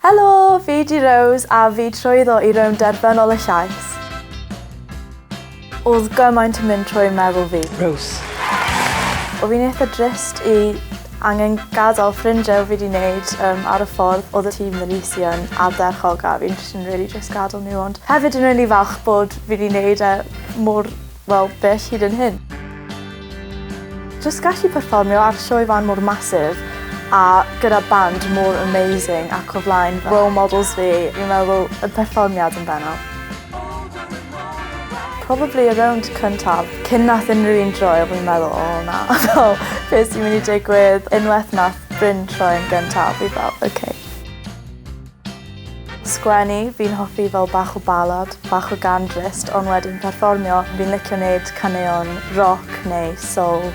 Helo! Fi 'di Rose a fi trwyddo i rownd derfynol y llais. Odd gymaint yn mynd trwy meddwl fi. Rose. O fi'n eitha drist i angen gadal ffrindie o fi 'di neud yym ar y ffordd odd y tîm yn is i yn ardderchog a fi'n jyst yn rili drist gadel n'w ond hefyd yn rili falch bod fi 'di neud e mor Wel, be es hyd yn hyn? Jyst gallu perfformio ar sioe fân mor massive a gyda band mor amazing ac o flaen fy role models fi, fi'n meddwl y perfformiad yn bennaf. Probably y rownd cyntaf. Cyn nath unrhyw un droi o fi'n meddwl o na fel be' sy myn' i digwydd? Unweth nath Bryn troi yn gyntaf fi fel ok. Sgwennu, fi'n hoffi fel bach o ballad, bach o gân drist ond wedyn perfformio, fi'n licio neud caneuon roc neu soul.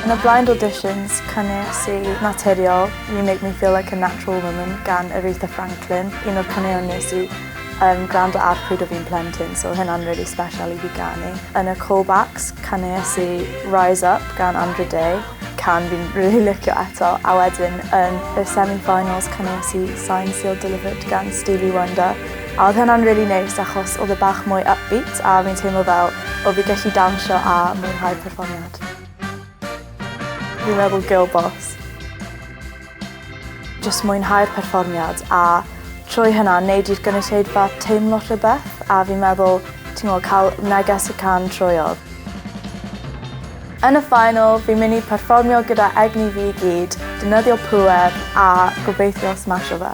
Yn y blind auditions caneuais i Naturiol, You Make Me Feel Like A Natural Woman gan Aretha Franklin, un o'r caneuon nes i yym grando ar pryd o fi'n plentyn so o'dd hynna'n rili sbesial i fi ganu. Yn y callbacks caneuais i Rise Up gan Andra Day. can fi'n rili licio eto a wedyn yn y semi finals cynes i Signed Sealed Delivered gan Stevie Wonder a oedd hynna'n rili neis achos oedd e bach mwy upbeat a fi'n teimlo fel o fi gallu dawnsio a mwynhau perfformiad. Fi'n meddwl girl boss. Jyst mwynhau'r perfformiad a trwy hynna neud i'r gynulleidfa teimlo rhywbeth a fi'n meddwl t'mo' ca'l neges y can troyodd. Yn y final fi'n myn' i perfformio gyda egni fi i gyd, defnyddio pŵer a gobeithio smasho fe.